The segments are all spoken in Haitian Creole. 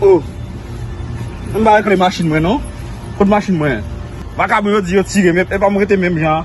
Oh Mwen pa wè kle machin mwen non Kot machin mwen Vakabon yo di yo tirem epi epa mwen rete menm jan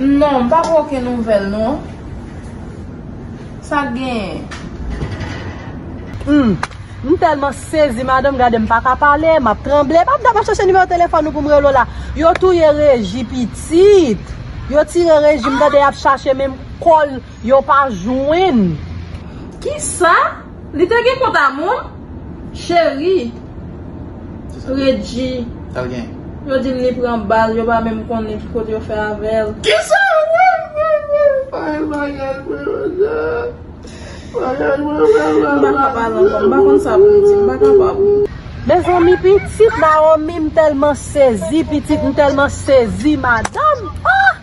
Non m pap oken nouvel non Sak genyen. Humm m telman sezi madanm gade m paka pale map tranble map dab ap chache nimewo telefon ou poum rele w la yo touye reji pitit yo tire reji m tande yap chache menm kol yo pa jwenn. Kisa? Li te gen kont a moun? Cheri Redji yo di m li pran bal yo pa menm konnen ki kote yo fè avè l. Kisa wap pale bay bagay mwen menm bagay mwen menm la la. M paka pale ankò m pa konn sa pou m di m pa kapab. Mezanmi pitit Naomi m telman sezi pitit m telman sezi madanm ah.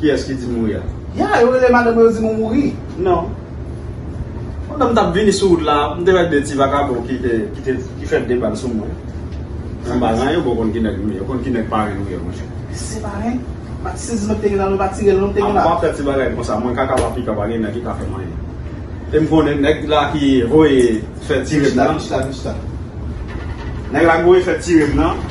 Kiyes ki di mouri a? Yeah, yo rele madanm yo di mou mouri. Non. Pandan m tap vini sou wout la, m te wè 2 ti vakabon ki te, ki te, ki fè 2 bal sou mwen. Nan balan yo bon konn ki nèg m ye, yo konn ki nèg parenn m ye monchè. Se parenn? Bat si zin nou te gen la nou pa tire l nou te gen la. Apa fè ti bagay konsa, mwen kaka pa pika pa gen nèg ki ka fè m anyen. E m konnen nèg la ki voye fè tire m nan. Kich la, kich la, kich la. Nèg la ki voye fè tire m nan.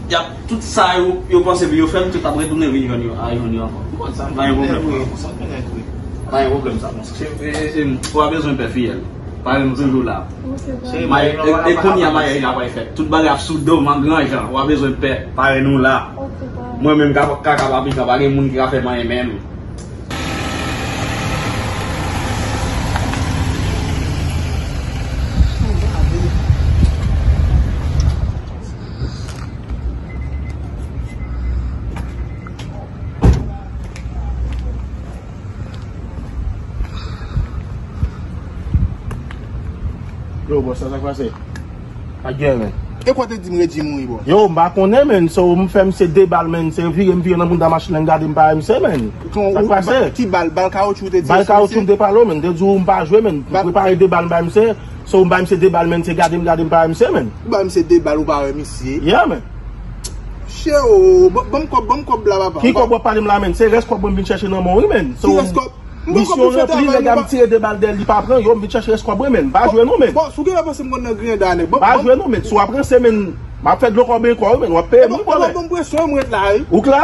Yap. Tout sa yo yo panse pou yo fè m tout ap retounen vin jwenn yo a jwenn yo ankò. Ou konn sa m renmen nèg vre konsa m renmen nèg vre. M pa gen pwoblèm sa konsa. Cheri m pa bezwen pè fiyèl. Pare m toujou la. E kounya maryaj la pral fèt. Tout bagay ap sou do m an gran jan. Ou pa bezwen pè. Pare nou la. Mwen menm ka kaka pa pikan pa gen moun ki ka fè m anyen menm. Yo bò sa sak pase? Ak gen men. E kwa te di m Regi mouri bò? Yo m pa konnen men so m fè misye de bal men se vire m vire nan bounda machin nan m gade m pa wè misye men. Sak pase? Ki bal? Bal kawoutchou ou te di yo sou misye? Bal kawoutchou m te pale w men. M te di w m pa jwe men. M prepare de bal m bay misye. So ou bay misye 2 bal menn se gade m gade m pa wè misye menn. Ou bay misye 2 bal ou pa wè misye. Yeah menn. Chè oo banm kòb banm kòb la papa. Ki kòb wap pale m la menn se rès kòb mwen m vin chèche nan menw wi menn. Ki rès kòb? Misyon ranpli nèg la m tire 2 bal dèyèl li pa pran yo m vin chèche rès kòb mwen menn. M pa jwe non menn. Boss ou genlè panse m konn nan griyen da nèg. M pa jwe non menn si wap ranse menn map fè dlo kòben kòw wi menn wap peye m wi bòlè. Epa banm presyon wi m ret la wi. Ou k la?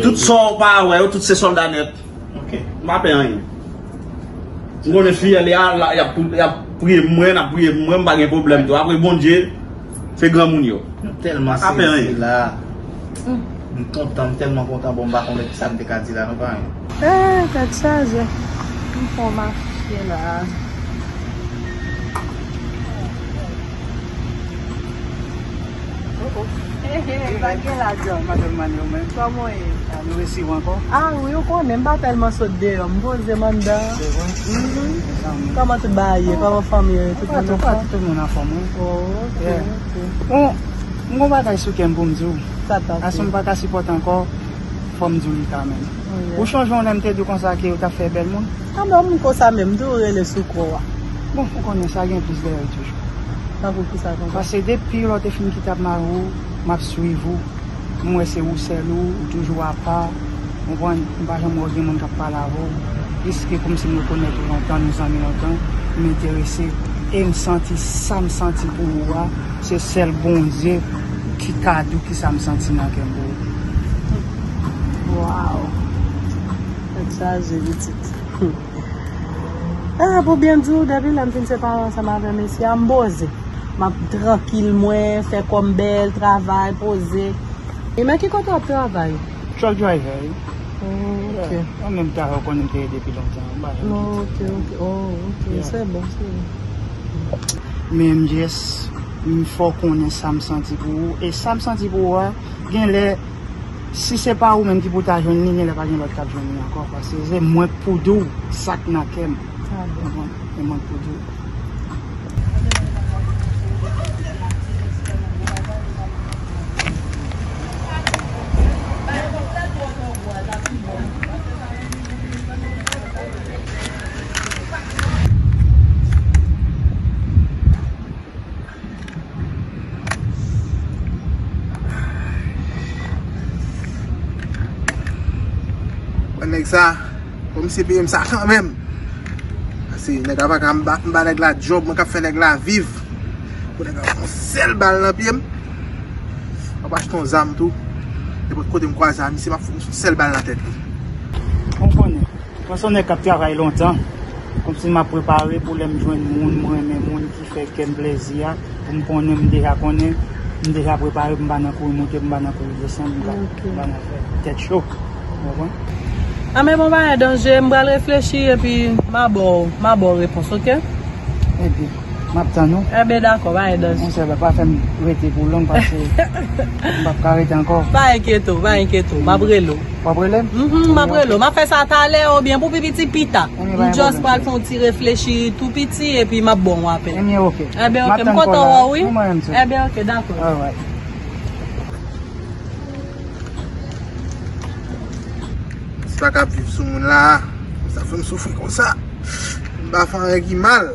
Tout sa w pa wè yo, tout se sòlda nèt. M pa pè anyen. M konnen fiyèl y a, y ap priye pou mwen, y ap priye pou mwen, m pa gen pwoblèm tou. Apre Bondye. Se granmoun yo. M telman sezi la. M kontan, m telman kontan bon m pa konnen kisa m te ka di la non paran. Eeh tèt chaje m fon mache la. M gon bagay sou kèm poum diw Ason m paka sipòte ankò fòm diw li kanmenm Ou chonje yon lè m te diw konsa ke ou tap fè bèl moun A bon m konsa menm tou ou rele sou kò a Bon ou konnen sa gen plis dèyèl toujou Tankou kisa konsa Pase depi lè ou te fin kite ap mari w map swiv ou. M wè se ou sèl ou, ou toujou apa, konprann, m pa janm wè w gen moun k ap pale avè w, plis ke kòmsi m rekonèt ou lontan, nou zanmi lontan, m enterese, e m santi sa m santi pou ou a, se sèl Bondye ki ka di w kisa m santi nan kè m pou ou. Waww! Tèt chaje pitit. E eh, pou byen di ou, depi lè m fin separe ansanm avè mesye a, m poze. M ap trankil mwen, fè kòm bèl, travay, poze. E nan ki kote w ap travay? Truck driver. Oh, ok. An menm ta yo konnen te depi lontan. Ba jan ki ti. Ok, ok. Oh, ok. Se bon, se bon. Men m jes, m fò konnen sa m santi pou ou. E sa m santi pou ou a, gen lè Si se pa ou menm ki pou ta jwenn li genlè pa gen lòt kap jwenn li ankò paske se mwen k pou di w sak nan kè m. Se mwen k pou di w. Mwen nèg sa Fò misye peyem sa kanmenm Pase nèg la paka m ba nèg la djòb mwen kap fè nèg la viv Pou nèg la pran yon sèl bal nan pyem Map achte yon zam tou Nenpòt kote m kwaze a misye map fout yon sèl bal nan tèt li Ou konnen Mwen son nèg kap travay lontan Kòmsi map prepare pou lèm jwenn moun m renmen moun ki. Fè kè m plèzi a pou m konnen m deja konnen m deja prepare pou m pa nan kouri monte pou m pa nan kouri desann m ka ba nan fè tèt cho ou konprann. A men bon bagay Danje m pral reflechi epi m a ba w m a ba w repons ok. Ebyen m ap tann ou. Ebyen dakò pa gen danje. Monchè pa fè m rete pou long paske m pap ka rete ankò. Pa enkyete w pa enkyete w m ap rele w. Wap relem? Mph map rele w map fè sa talè oubyen pou pi piti pita m just pral fè yon ti reflechi tou piti epi map ba w apèl Ebyen ok Ebyen ok m kontan wè w wi Mwen menm tou Ebyen ok dakò Alright Sa kap viv sou moun la Sa fè m soufri konsa M pa fè anyen ki mal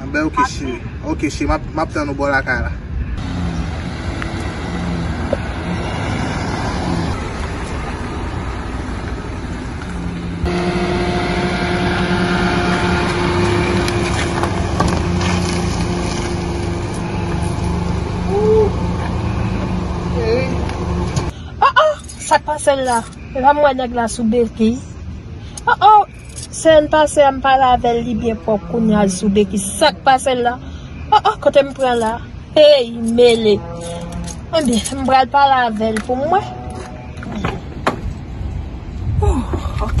Anbè ok cheri. Ok cheri map map tann ou bò lakay la. Sak pasel la. Epa m wè nèg la sou beki. Sèl pase a m pa lavel li byen pwòp kounya Zube ki sak pasel la oh oh kote m pran la hey mele ebyen m pral pale avèl pou m wè oh ok.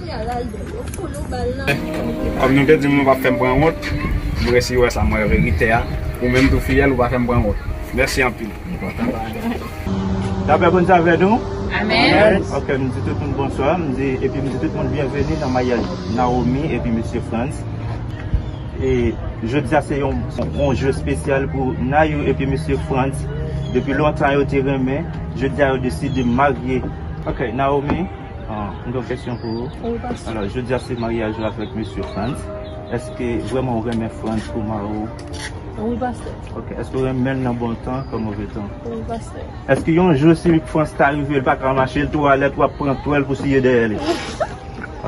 Kòm nou te di m nou pap fèm pran wont, m resi wè sa m wè verite a, ou menm tou fiyèl ou pa fèm pran wont. Mèsi anpil. Lapè Bondye avè nou. Amen. Ok m di tout moun bonswa m di epi m di tout moun byenveni nan maryaj Naomi epi mesye Frantz e jodia se yon jou espesyal pou Nayou epi mesye Frantz depi lontan yo te renmen jodia yo deside marye ok Naomi. Mwen gen yon kesyon pou ou. Wi pastè. Alò jodia se maryaj ou avèk mesye Frantz. Eske vrèman ou renmen Frantz pou mari ou? Wi pastè. Ok. Eske ou renmenl nan bon tan kon move tan? Wi pastè. Eske yon jou si Frantz ta rive li pa ka mache li twò alèt wap pran twèl pou siye dèyè li?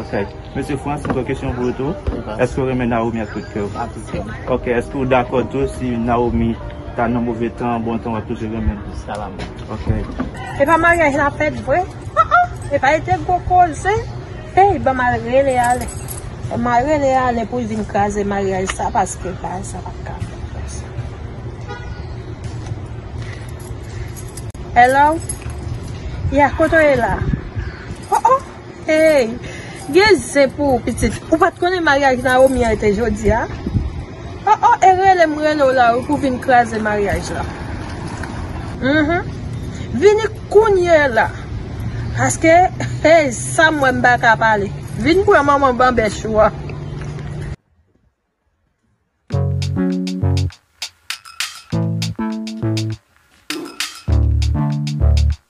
Ok. Mesye Frantz mwen gen yon kesyon pou ou tou. Wi pastè. Eske ou renmen Naomi ak tout kè ou? Ak tout kè m. Ok. Eske ou dakò tou si Naomi ta nan move tan, bon tan wap toujou renmenl? Jiska lanmò. Ok. Epa maryaj la fèt vre? Ah ah epa li te gwo koze eyy banm al rele ale banm al rele ale poul vin kraze maryaj sa paske bagay sa pat ka fèt konsa Hello Yeah kote w ye la Oh oh eyy gen zen pou ou pitit ou pat konnen maryaj Naomi an te jodia. Oh oh e rele m rele w la wi pou vin kraze maryaj la Humm vini kounye la paske hey sa m wè m pa ka pale vin pran manman banbèch ou an.